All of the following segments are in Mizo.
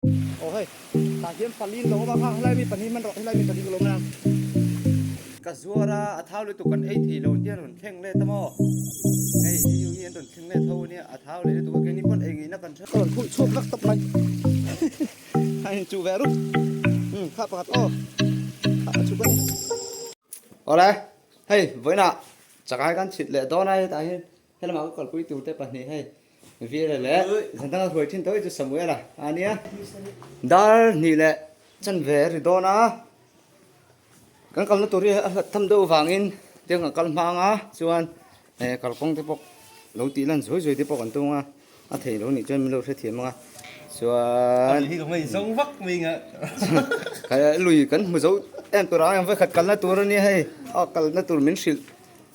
Aw hei, tah hian pali an lo awm a, kha helai mi pahnih hman rawh, helai mi pahnih ka lo awm lam. Ka zuar a, a thau lutuk kan ei thei lo an tih a, an rawn thleng let a maw? Hei, hei ho hi an rawn thleng let ho a nia, a thau leh lutuk a keng hi pawn ei ngei na kan hre. Ka rawn phuih chhuak rak tak mai. Kha in chuh ve a ruk. Umm, kha pakhat aw, kha a chuk a ni. Awle, hei vawiinah chakah hi kan chhit leh dawn a, hetah hian. Helama ka kawlpui turte pahnih hei, Vira leh Zantanga hruai thin tawh hi chu Samuela a nia. Dar hnih leh chanve a ri dawn a, kan kalna tur hi a hlat tham deuh avangin tiang kan kal hmang a, chuan he kalkawng te pawh lo tih lan zuai zuai te pawh kan tung a, a theih lo nih chuan min lo hrethiam ang a, chuan Lui kan zong vak mai anga chuan lui kan hmu zo em tur ang, vawi khat kalna tur a nia hei, a kalna tur min hrilh.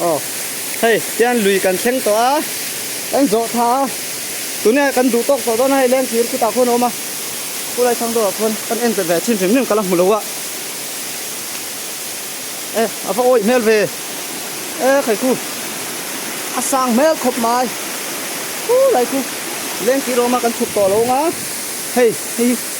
Aw, hei hian lui kan thleng tawh a, kan zawh tha a, tuna kan duh tawk tawh dawn a, hei leng thir khutah khawn a awm a, Pu Laithlang deuh ah khawn kan entirh ve thin hrim hrim kal a hmu lo a, e a va awih hmel ve e Khaikhu, a sang hmel khawp mai, pu Laikhu leng thir a awm a, kan chhuk tawh a lo ang a, hei hi.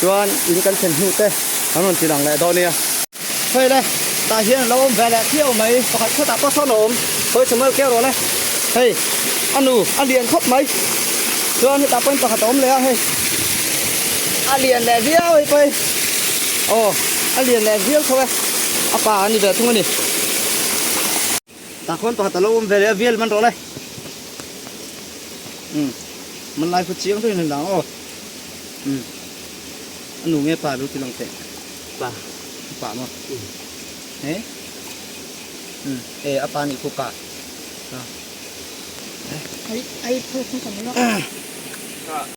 chuan in kan thlen hnu te kan rawn chin ang leh dawn nia. Hei le, tah hian lo awm ve leh phiau mai, pakhat khat ah pasawn a awm, hawi Samuel keu rawh le, hei a nu a lian khawp mai, chuan hetah pawhin pakhat a awm leh a, hei a lian leh viau hi pawhin, aw a lian leh viau tho e, a pa a ni ve thung a ni. Takhuan pakhat a lo awm ve leh a vial man rawh lai. Um. Hmanlai khaw chiang deuhin a ni dang aw. Um. A nu nge pa lu ti lang teh? Pa. Pa maw? Um. He? Um. E, a pa nih khaw pa. Hah. He? Ai, ai phone khaw kan awm lo. Hah.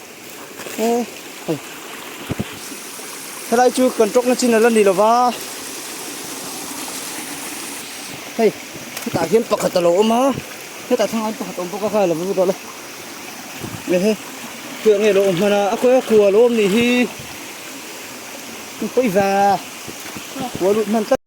helai chu kan ṭawk na chin a la ni lo va hei hetah hian pakhat a lo awm a hetah thlang ah hian pakhat a awm bawk a kha la vawr vawr tawh la ehe hei nge lo awm hman a a khawi a kua lo awm nih hi pawi va kua lut hman tlat.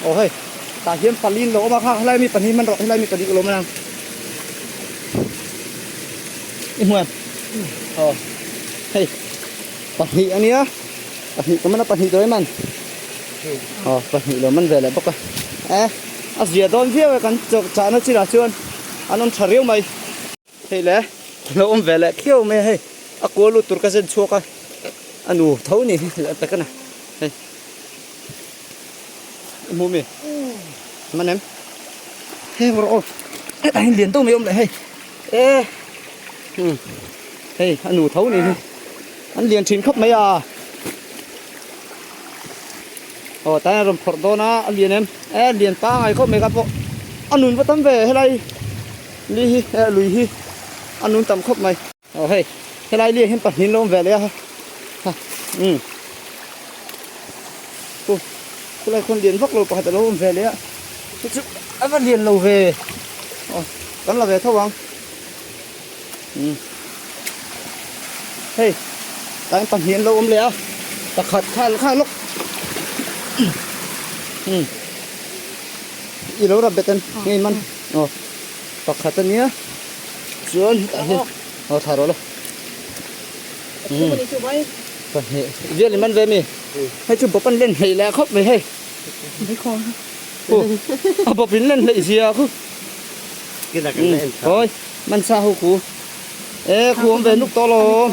Aw hei, tah hian pali an lo awm a, kha helai mi pahnih hman rawh, helai mi pahnih ka lo awm a. I hmuh em? Aw hei, pahnih a nia, pahnih ka man a, pahnih dawi man. Aw pahnih lo man ve leh bawk a. Eh, a zia dawn viau e, kan chahna chinah chuan an awm tha riau mai. Hei le, kan lo awm ve leh phiau mai a hei, a kual lut tur ka zen chhuak a, a nu tho ni hi a ta ka na, hei, i hmuh mi? Hman em? Heng rawh aw, hetah hian lian deuh mai a awm leh hei, ee, umm, hei a nu tho ni hi an lian thin khawp mai a, aw ta hian a rawn phawrh dawn a, a lian em? Ee a lian pangngai khawp mai ka hmu, a nun va tam ve helai. Ni hi eh lui hi a nun tam khawp mai. Aw hei helai lia hian pahnihin lo awm ve leh a ha umm pu khulai khawn lian vak lo pakhat alo awm ve leh a te chu a va lian lo ve aw kan la ve tho ang umm hei tlai in pahnih an lo awm leh a pakhat kha kha lawk umm i lo rap bet em ngei man aw. pakhat ania chuan hetah hian aw thar awla pahnih vial in man ve mi hei chu bawp an len hleih leh khawp mai hei a bawp in len hleih zia khaw hawi man sa ho khu e khuang ve nuk tawh alawm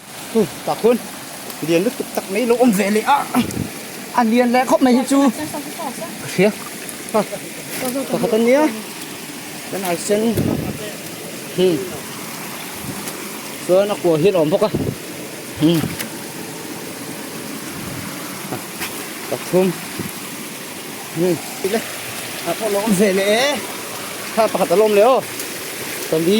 Hu pakhun lian lutuk tak mai lo awm ve leh a a lian leh khawp mai hi chu hria ha pakhat ania kan ai sen hmm chuan a kua hian awm bawk a hmm pathum hmm ile a pawh lo awm ve leh e ha pakhat alo awm leh aw pali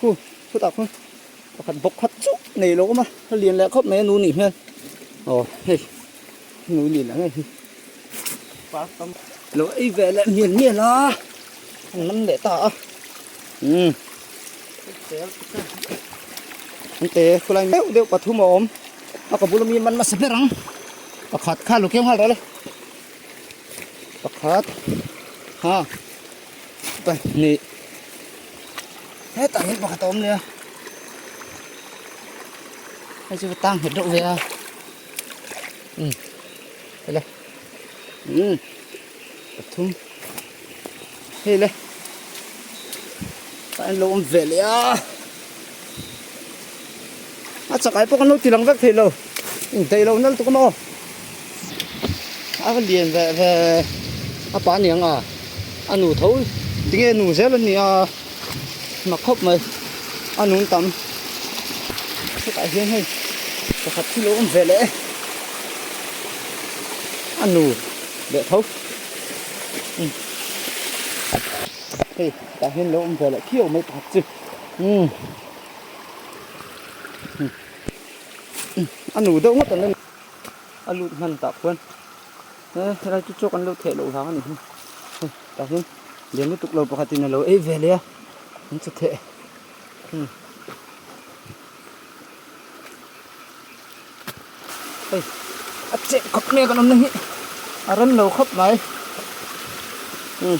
Huh, chutah khawn pakhat bawk khat chuh nei lo awm a, a lian leh khawp mai a nu nih hian. Aw, hei, nu nih la ngei hi. Park tam lo ei ve leh mian mian a, an lam leh ta a. Umm. An te khulai deuh deuh pathum a awm. A ka bul ami man nasa ber ang. Pakhat kha a lo keu nghal reh le. Pakhat, ha. Pahnih hetah hian pakhat a awm leh a hei chu va tang nghet deuh ve a umm hei le umm pathum hei le an lo awm ve leh a. a chakai pawh kan lo tilang vek theih lo intaih lo nal tuk a maw a va lian ve ve a pa ni ang a a nu tho tinge nu zel a ni a hma khawp mai a nun tam hetah hian hei pakhat hi lo awm ve leh a nu leh tho hei hetah hian lo awm ve leh phiau mai pakhat chu. a nu deuh ngawt ala ni a lut hman tah khuan he helai chu chu kan lo theh loh hlang a ni hi he tah hian lian lutuk lo pakhat in alo ei ve leh a an che theh. hei a chep khawp mai a kan awmna hi a rem lo khawp mai hei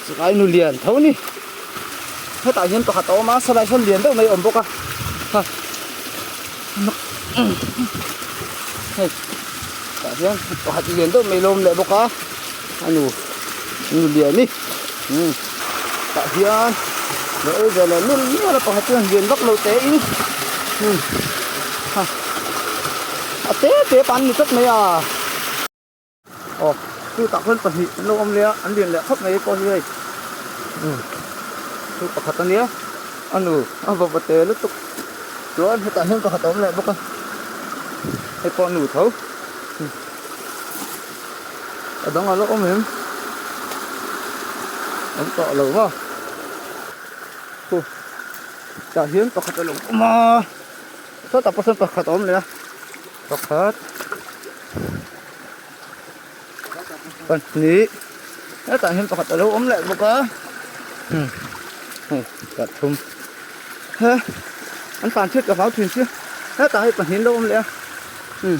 chulai nu lian tho ni hetah hian pakhat a awm a salai hran lian deuh mai a awm bawk a ha hei tah hian pakhat lian deuh mai a lo awm leh bawk a. A nu, a nu lian hi umm tah hian leh ei zel a lun miah la pakhat chuan lian vak lo teh in umm ha a te te pan a ni tlat mai a. Aw chu tah khawn pahnih an lo awm leh a, an lian leh khawp mai e pawh hi hei umm chu pakhat a nia a nu a va va te lutuk chuan hetah hian pakhat a awm leh bawk a hei pawh a nu tho umm. A dang alh awm em? Kan tah lo va. Huh. Tah hian pakhat a lo awm a. Sawtah pawh sawn pakhat a awm leh a. Pakhat. Pahnih. Hetah hian pakhat a lo awm leh bawk a. Hmm. Huh. Tah thum. He. An tan chiah ka hlau thin chu. Hetah hi pahnih an lo awm leh a. Hmm.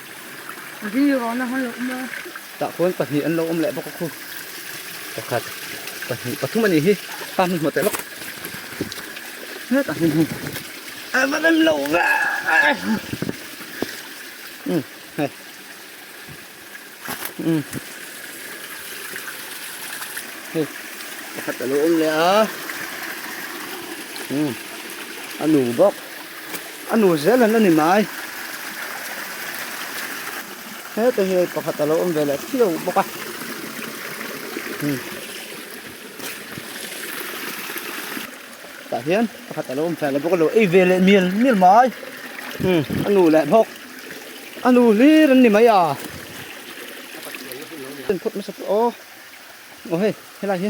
Ri rawn na han lo awm a. Tah khuan pahnih an lo awm leh bawk a khu. Pakhat, pahnih, pathum anih hi. Kha hmun hmawt leh lawk. Hetah hian hei a va rem lo va. Umm hei. Umm. Hei pakhat a lo awm leh a. Umm a nu bawk. A nu zel han ani mai. Heta hian pakhat a lo awm ve leh phiau bawk a. Tah hian pakhat a lo awm fia leh bawk a lo ei ve leh mial mial mai. A nu leh bawk. A nu hlir an ni mai a. An phawt hmasa tawh aw. Aw hei, helai hi.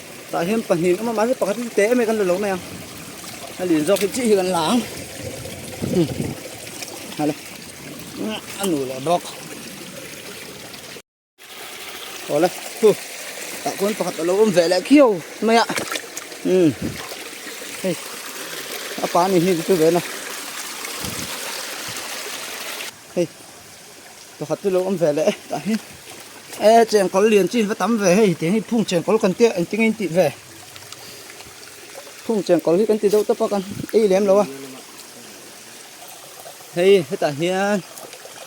Tah hian pahnih an awm a, mahse pakhat hi chu teh em mai kan la lo mai a, a lin zawk hi chi hi kan la ang. Hmm. Ha le. A nu leh bawk. Aw le. Hu. Tah khawn pakhat a lo awm ve leh khiau mai a. Hmm. Hei. A pa nih hi chu ve na. Hei pakhat te lo awm ve leh e tah hian e chengkawl lian chin va tam ve hei tiang hi phung chengkawl kan tia engtin nge in tih ve phung chengkawl hi kan ti deuh tawp a kan ei lem lo a hei hetah hian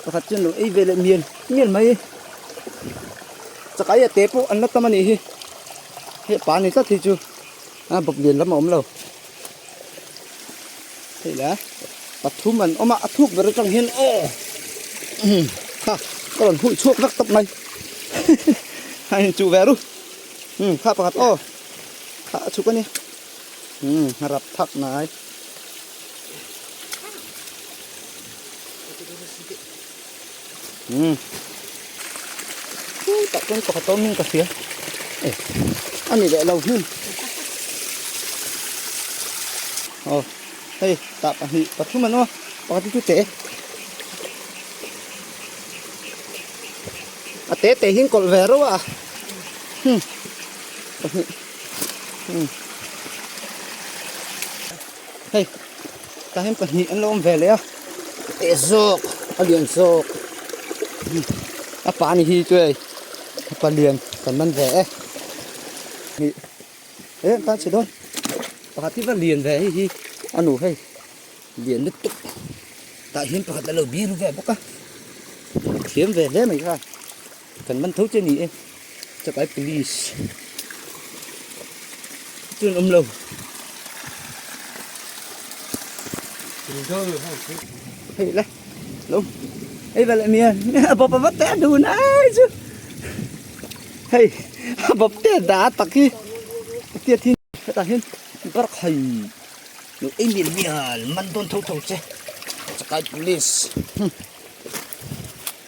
pakhat chuan lo ei ve leh mian mian mai chakai a te pawh an la tam a nih hi hei pa ni tlat hi chu a bawp lian lam a awm lo. Hei la, pathum an awm a, a thuk ber atang hian aw umm kha ka rawn huih chhuak vek tawp mai kha in chuh ve a ru umm kha pakhat aw kha a chhuk a nia umm a rap thak nai. Hmm. Ui, tak pun pakhat tawm min ka fia. Eh, ani leh lo hmun. Oh, hei, tak pahnih pathum an aw, pakhat chu te. A te te hin kolh ve rau a. Hmm. Pahnih. Hmm. Hei. Tah hian pahnih an lo awm ve leh a, a teh zawk, a lian zawk. A pa ni hi chuai a palian kan man ve e. Ni e an tan chhe dawn. Pakhat hi va lian ve hei hi a nu hei, lian lutuk. Tah hian pakhat a lo biru ve bawk a, a thiam ve hle mai kha. Kan man tho che ni e. Chakai police. Tun um lo. Hei la. Lo. Hei vel em ya. Bop bop te du na chu. Hei. Bop te da tak hi. Ti thi ta hin bar khai. Lo ei mi mi al man don tho tho che. Chakai police.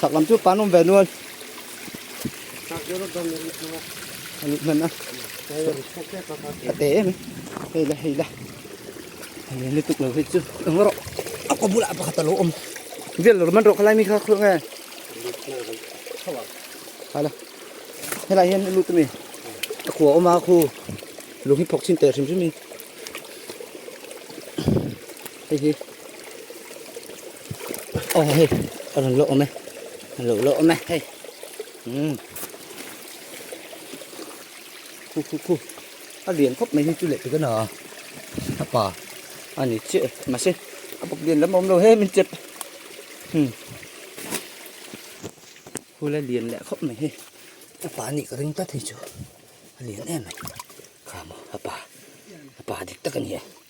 Chak lam chu pan awm ve nual. Chak chu rawt zawm nih chunga. Ani hman a. Ka te em. Hei la hei la. Ani ni tuk lo hi chu. Eng rawh. A ko bula pakhat a lo awm. Vel lo man rawh khalai mi kha khawlh nge. Hala. Helai hian i lut mi. A khuwa awm a khu. Lung hi phawk chin teh hrim hrim i. Hei hi. Aw hei, a rawn loh awm e. A lo loh awm e hei. Hmm. Khu khu khu. A lian khawp mai hi chu leh tikana a. A pa a ni chiah e. Mahse, a buk lian lam a awm lo he min chet. Hmm. Khula lian leh khawp mai hi. A pa a nih ka ring ta thei chu. A lian em em. Kha maw, a pa. A pa dik tak a ni e.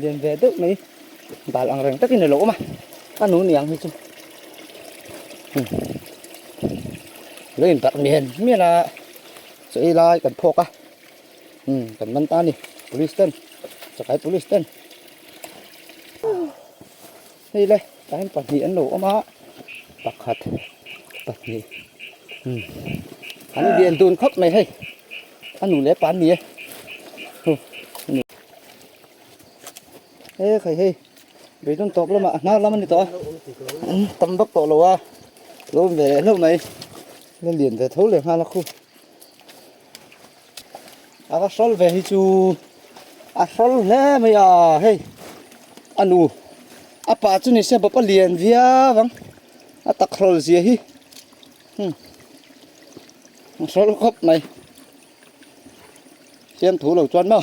lian ve deuh mai bal ang reng takin a lo awm a a nu niang hi chu umm a lo in tarh mian mian a saw i lai kan phawk a umm kan man ta a ni police ten chakai police ten. Hei le tlai pahnih an lo awm a pakhat pahnih umm an lian dun khawp mai hei a nu leh pa an ni e hu nu he khai hei beidun tawp lama a hnar lam a ni tawh a an tam vak tawh lo a lo awm ve leh hlauh mai la lian ve tho leh nghal a khu. A va hrawl ve hi chu a hrawl hle mai a hei a nu a pa chu nise bawk a lian viau ang a tak hrawl zia hi hum a hrawl khawp mai fiamthu lo chuan maw.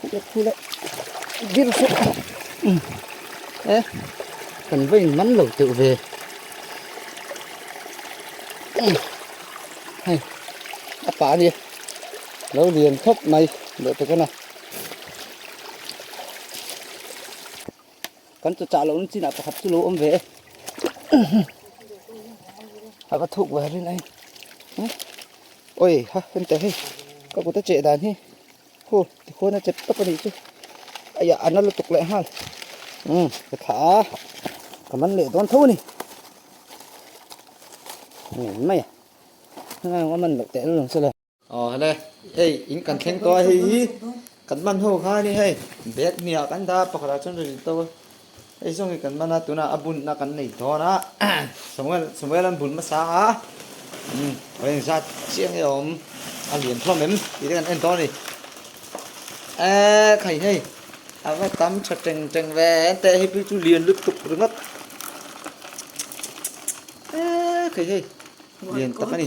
Khula khula dil hrep a umm e kan va in man lo teuh ve umm hei a pa hi lo lian thawp mai leh te khan a kan chaw chah loh na chinah pakhat chu lo awm ve e umm a va thuk ve rin a e awih ha heng teh hei ka kut a cheh dan hi. Huh, tikhun a chet tawp a nih chu. Aia, a na lutuk leh nghal. Umm, ka thlah a, ka man leh dawn tho a ni. Ngen mai a, engaiawng a man loh teh lo lang se le. Aw, hale, hei in kan thleng tawh a, hei hi kan man ho khan i hei bag hniah kan dah a, pakhatah chuan rilru to a. Eizawng hi kan man a, tunah a bunna kan nei dawn a, Samuel, Samuel an bun hmasa a, umm, vawlei in zat chiang nge awm, a lian thuam em tih te kan en dawn a ni. Eee, khai hei, a va tam tha teng teng ve em teh, heipu chu lian lutuk ringawt. Eee, khai hei, lian tak a ni.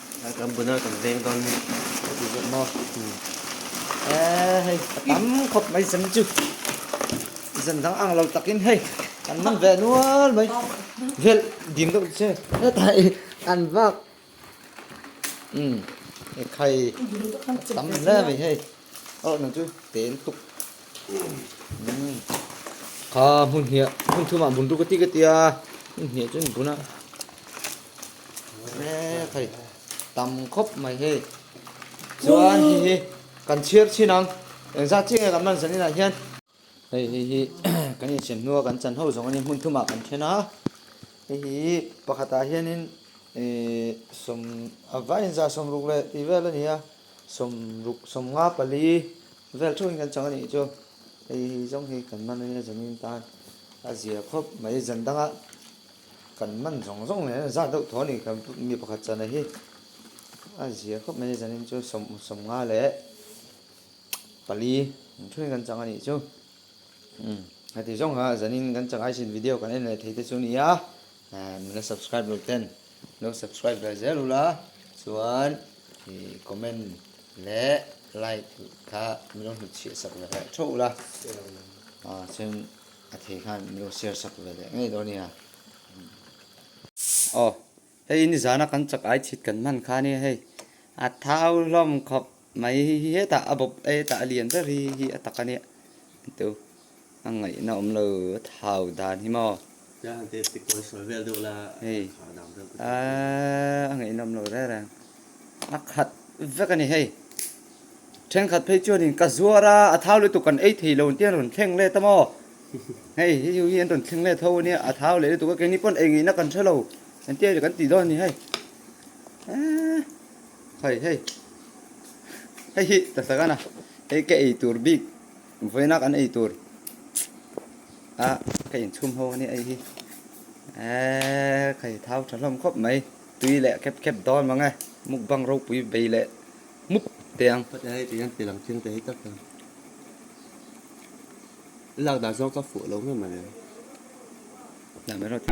Kan bun a kan veng dawn hi ka ti zawk maw? E hei ka tam khawp mai sem chu zan dang ang lo takin hei kan man ve nual mai vel dim deuh che heta i an bak um e khai ka tam hle mai hei. Aw nang chu tel tuk. Kha hun hia hun thuma bun tu ka ti ka ti a hun hia chu buna. Re thai tam khop mai he. Chuan hi hi kan chhiar chin ang. Engza chi nge kan man zan in ah hian. Hei hi hi kan insiam hnu a kan chan ho zawng a nia hmun thum ah kan then a hei hi hi pakhat ah hian in ihh sawm a vai in zah sawm ruk leh tih vel a ni a sawm ruk sawm nga pali vel theuh in kan chang a nih chu hei hi hi zawng hi kan man a nia zawng in tan a zia khawp mai zan dang a kan man zawng zawng nen a zah deuh thaw a ni kan mi pakhat chana hi a zia khawp mai a zan in chu sawm sawm nga leh. Pali ni thurin kan chang a nih chu. Umm heti zawng kha zanin kan chang aisin video kan en leh thei te chu a nia. Emm la subscribe lo ten lo subscribe ve zel ula chuan ih comment leh like kha min lo hnut chhiah sak ve leh tho ula ah chuan a thei khan min lo share sak ve leh ngei dawn a nia. Aw. Hei i nizana kan chak ai chhit kan hman kha nia hei, a thau hlawm khawp mai hi hetah a bawp e tah a lian ber hi hi a tak a nia ento a ngaihna awm lo a thau dan hi maw. Tiang han ti a tikawr a sawi vel deuh la a khah a dang vel pawh tih a hriat lo. Hei a ngaihna awm lo reng reng. A khat vek a ni hei. Thenkhat phei chuanin ka zuar a, a thau lutuk kan ei thei lo tian rawn thleng let a maw? Hei, hei chu hi an rawn thleng let ho a nia, a thau leh lutuk a, keini pawn eingeihna kan hre lo kan ti aia kan tih dawn a ni hei. Hei hei, hei hi Tasagana, hei ka ei tur bik, vawiina kan ei tur a ka inchhum ho a nia hei hi. Hei, thau tha hlawm khawp mai. Tui leh khep khep dawn mang e. Mukbang ropui bei leh mup te ang. Khawtia hei tui an pe lam thil te hi tak tak. I lak dan zawk ka fuh lo ngam a nen. Lam erawh ti.